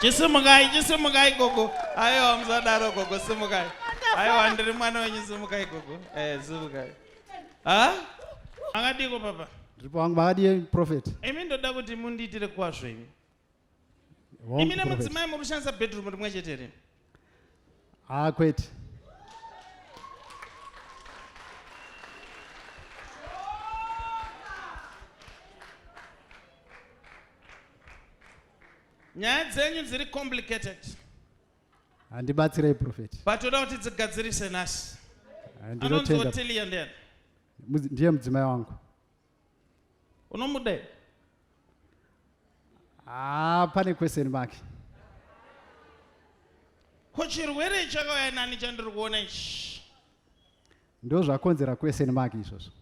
chisimukai chisimukai gogo aiwa musadaro gogo simukai aiwa ndiri mwana wenyu simukai gogo eh, simukai ha makadiko papa ndiripo wangu makadii profet imi ndoda kuti mundiitire kwazvo imi imi nemudzimai muri kushandisa bedroom rimwe chete rimi haa kwete nyaya dzenyu dziri complicated handibatsirei profeti patoda kuti dzigadzirise nhasi anonzi otilia ndiani ndiye mudzimai wangu unomude haa ah, pane question mark ko chirwere chakauya nani chandiri kuona ichi ndo zvakonzera question mark izvozvo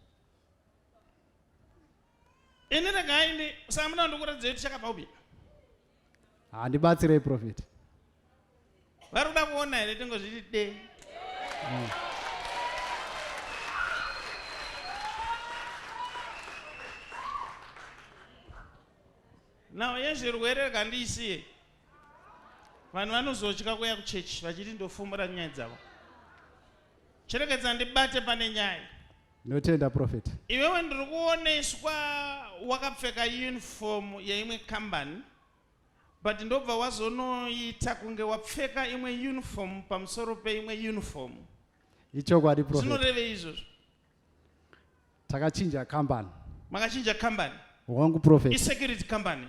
ini regai ndi samuna ndikuratidza kuti chakabva kubika handibatsirei prophet vari kuda kuona here tingozviti de mm. nhau yezvirwere rega ndiisiye vanhu vanozotya kuya kuchechi vachiti ndofumura nyaya dzavo cherekedza ndibate pane nyaya Ndinotenda prophet. Iwewe ndiri kuoneswa wakapfeka uniform yeimwe company but ndobva wazonoita kunge wapfeka imwe uniform pamusoro peimwe uniform. Ichokwadi prophet. Zvinorevei izvozvo? Takachinja company. Makachinja company. wangu prophet isecurity company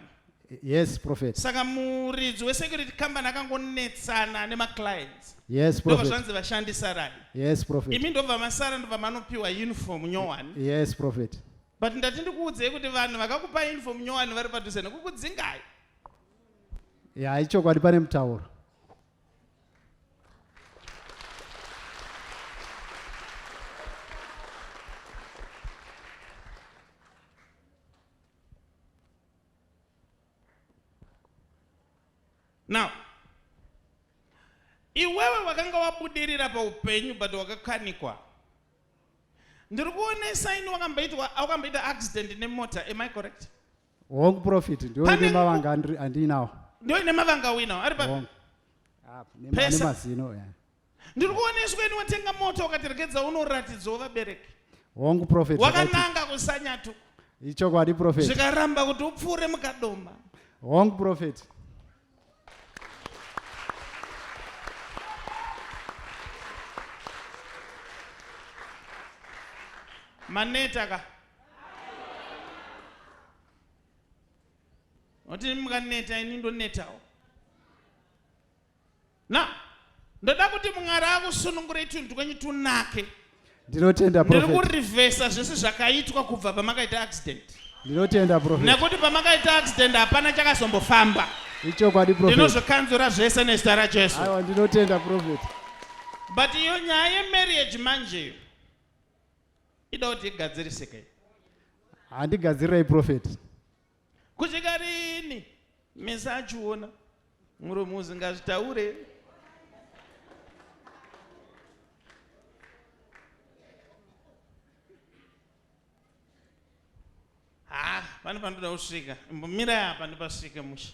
yes prophet saka muridzi wesecurity company akangonetsana nemaclients yes prophet zvanzi vashandi sarai yes prophet imi ndobva masara ndobva manopiwa uniform nyowani yes prophet but ndati ndikuudzei kuti vanhu vakakupa uniform nyowani vari padhuze nekukudzingai ya ichokwadi pane mutauro now iwewe wakanga wabudirira paupenyu but wakakanikwa ndiri kuonesa ini wakamboitwa wakamboita accident nemota am i correct Wrong prophet. Ndio Pane- ine mavanga andri- andinawo. ndio ine mavanga winawo ari papi Wrong. Ah, ne- ne Pesa. mazino. yeah. ndiri kuona isu kweni watenga mota ukatiregedza unoratidzwa vabereki Wrong prophet. zvakaiti- wakananga kusanyatu Ichokwadi prophet. zvikaramba kuti upfuure mukadoma Wrong prophet. maneta ka oti mukaneta ini ndonetawo Na, ndoda kuti Mwari akusunungurei tunhu twenyu tunake. Ndinotenda Ndiri prophet. kurivhesa zvese zvakaitwa kubva pamakaita accident. Ndinotenda prophet. Nekuti pamakaita accident hapana chakazombofamba. Ichokwadi prophet. Ndinozvikanzura zvese nezita raJesu. Aiwa ndinotenda prophet. But iyo nyaya yemarriage manje iyo ida kuti igadzirisike. Handigadzirirei prophet. Kusvika rini mese achiona muromo uzingazvitaure. Ha, ah, pane panoda kusvika. Mira apa ndipasvike musha.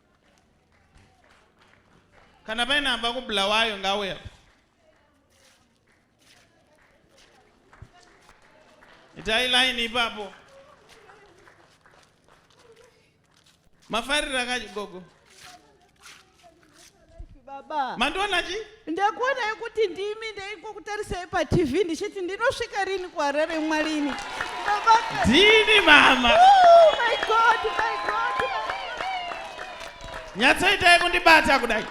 kana paine amba kubulawayo ngauya itai line ipapo mafarira kachi gogo baba mandiona chi ndakuonai kuti ndimi ndaingokutarisai patv ndichiti ndinosvika rini kuharare mwarini ndini mama oh, my God, my God. nyatsoitai kundibata kudai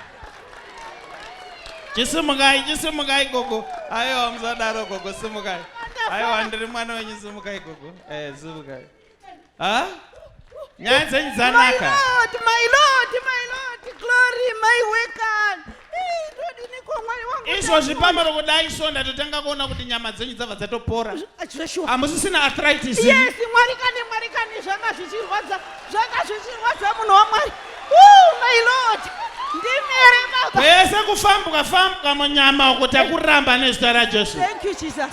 chisimukai chisimukai gogo aiwa musadaro gogo simukai aiwa ndiri mwana wenyu simukai gogo eh, simukai Ah? Nyaya dzenyu dzanaka. My Lord, my Lord, my Lord, glory, my wekan. Izvozvi pamwe kudai so ndatotanga kuona kuti nyama dzenyu dzabva dzatopora. Hamusisina arthritis. Yes, Mwari kani, Mwari kani, zvanga zvichirwadza, zvanga zvichirwadza munhu waMwari. Oh, my Lord. Ndimere baba. Pese kufambuka fambuka munyama uko takuramba nezita raJesu. Thank you Jesus.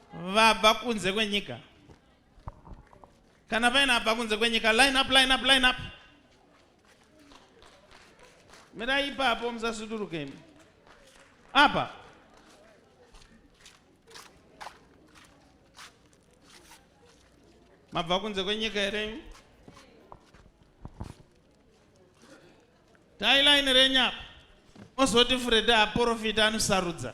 vabva kunze kwenyika kana paina abva kunze kwenyika line up line up line up mirai ipapo musasudurukemi apa mabva kunze kwenyika here tailaini renyu apa ozoti fureda aporofita anosarudza